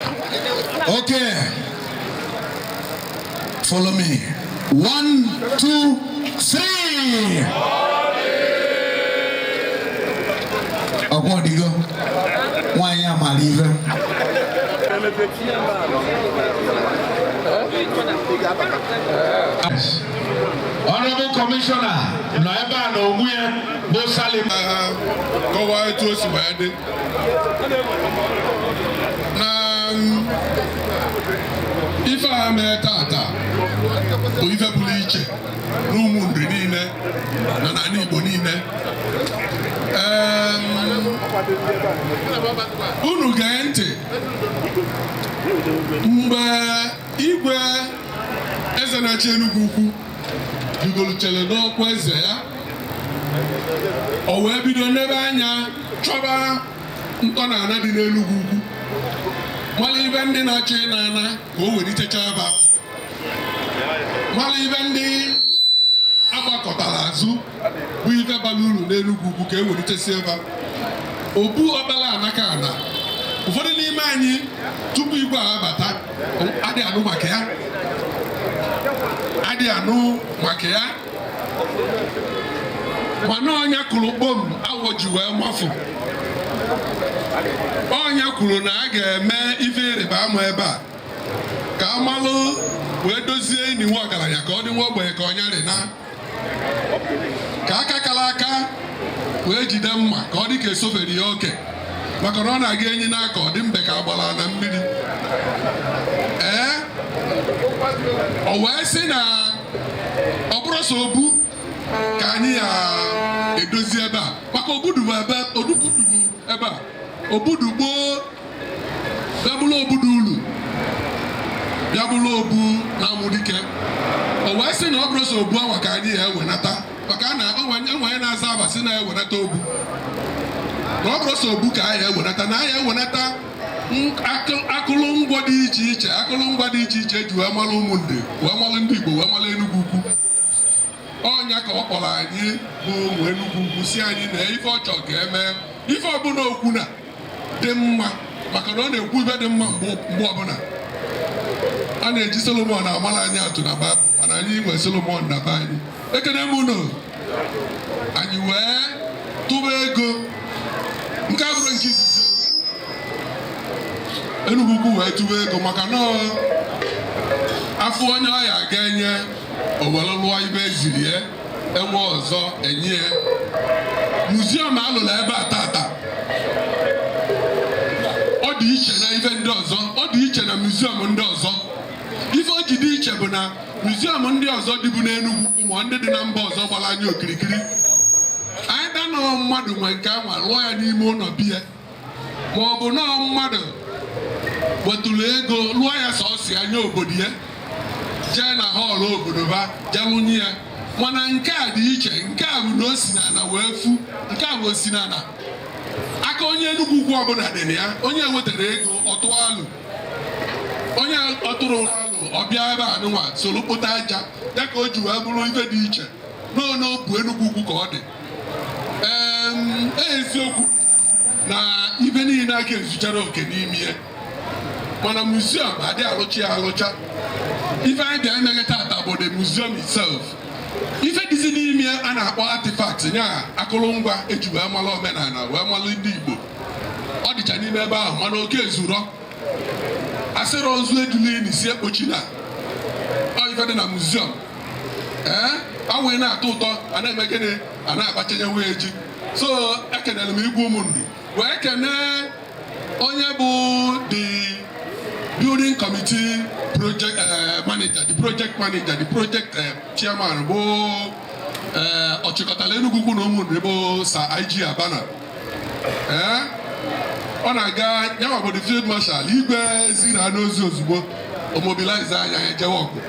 Okay. Follow me. One, two, three. Ọkwa ọdịgo nwaanyị amara ife. Honorable Commissioner nọ ebe a na onwe ya bụ Sally. Kọwaa etu o si wee dị. ife a mee tata bụ ife pụlụ iche n'Ụmụnri niile na n'ani Igbo niile unu gee ntị mgbe igwe eze na-achị Enugwu Ukwu rigoro chere n'ọkwa eze ya o wee bido nebe anya chọba ntọnaana dị n'Enugwu Ukwu malụ ife ndị na-achọ ịna ana ka o were ichechaba malụ ife ndị agbakụtara azụ bụ ife balụ ulu n'Enugwu Ukwu ka e wenitesi ebe obu Ọkpala Nakana ụfọdụ n'ime anyị tupu igwe a abata adị anụ maka ya adị anụ maka ya mana ọ nya kụlụ kpom awọ ji wee mafụ ọ nya kwulu na a ga-eme ife ịrịba ama ebe a ka a malụ wee dozie ini nwa ọgaranya ka ọ dị nwa ogbenye ka ọ nya rịna ka aka kala aka wee jide mma ka ọ dị ka e sufere ya oke maka na ọ na-aga enyi n'aka ọ dị mbe ka agbalụ ana mmiri ee o wee sị na ọ bụrụ sọ obu ka anyị ya-edozi ebe a maka obudu ebe odubudubu ebe a obu dụ gboo bịa bụrụ obu dụ ulu bịa bụrụ obu na-amụ dike o wee sị na ọ bụrụ sọ obu awa ka anyị ya-ewenata maka na e nwe onye na-aza aba sị na ewenata obu na ọ bụrụ sọ obu ka anyị ewenata na anyị ewenata akụlụngwa dị iche iche akụlụngwa dị iche iche e ji wee malụ Ụmụnri wee malụ ndị Igbo wee malụ Enugwu Ukwu ọ nya ka ọ kpọrọ anyị bụ ụmụ Enugwu Ukwu sị anyị na ife ọ chọrọ ga-eme ife ọbụna o kwu na-adị mma maka na ọ na-ekwu ife dị mma mgbe ọbụna a na-eji Solomon amalụ anyị atụ na Bible mana anyị nwee Solomon na be anyị ekene m unu anyị wee tụba ego nke a bụrụ nke izizi Enugwu Ukwu wee tụba ego maka na afọ onye ọya ga-enye o were lụọ ife eziri ya enwe ọzọ enye ya muziọm alụrụ ebe a tata ọ dị iche na ife ndị ọzọ ọ dị iche na muziọm ndị ọzọ ife o ji dị iche bụ na muziọm ndị ọzọ dịbu n'Enugwu ma ndị dị na mba ọzọ gbara anyị okirikiri either na ofu mmadụ nwe nke anwa lụọ ya n'ime ụlọ be ya ma ọ bụ na ofu mmadụ wetụrụ ego lụọ ya sọsọ ya nye obodo ya jee na họọlụ obodo ba jee lụnye ya mana nke a dị iche nke a bụ na o si n'ala wee fu nke a bụ o si n'ala aka onye Enugu Ukwu ọbụla dị na ya onye wetarọ ego ọ tụọ alo onye atụrọ alo ọ bịa ebe a nụnwa soro kpota aja ya ka o ji wee bụrụ ife dị iche n'obu Enugu Ukwu ka ọ dị ee eziokwu na ife niile aka ezucharọ oke n'ime ya mana muziọm adị alụcha ya alụcha ife anyị bịa emeghe tata bụ the museum itself ife dịzi n'ime a na-akpọ artifact nya akụrụngwa eji wee mara omenala wee mara ndị Igbo ọ dịcha n'ime ebe ahụ mana oke ezurọ asịrị ozu ejule ini sị ekpochie na ọ ife dị na muziọm ee awụghị na-atọ ụtọ a na-eme gịnị a na-agbachenye wee ji so ekenere m igwe Ụmụnri wee kenee onye bụ the building committee project eh, manager the project manager the project eh, chairman bụ eh, ọchịkọtala Enugu Ukwu na Ụmụnri bụ Sir IG Abana ọ na-aga ya nwa bụ the field marshal igwe ziri ya ozi ozugbo o mobilize army ya jewe ọgụ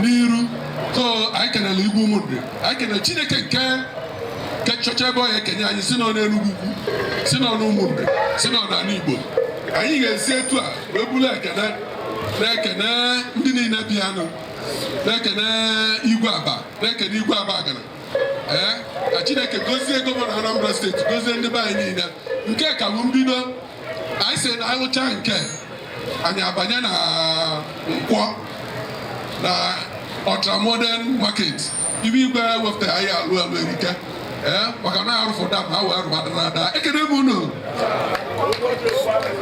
n'iru so anyị kenele igwe Ụmụnri anyị kenele chineke nke nke nchọcha ebe ọya ekenye anyị si n'ọnụ Enugu Ukwu si n'ọnụ Ụmụnri si n'ọnụ ala Igbo anyị ga-esi etu a wee bụrụ ekene na-ekene ndị niile bịanụ na-ekene igwe Abba na-ekene igwe Abagana ee ka chineke gozie gọvanọ Anambra steeti gozie ndị be anyị niile nke a ka bụ mbido anyị si na alụcha nke a anyị abanye na Nkwọ na ultramodern market ife igwe wepụtara anyị alụ alụ erike ee maka na arụfụ dam ha wee rụbadara ada ekene m unu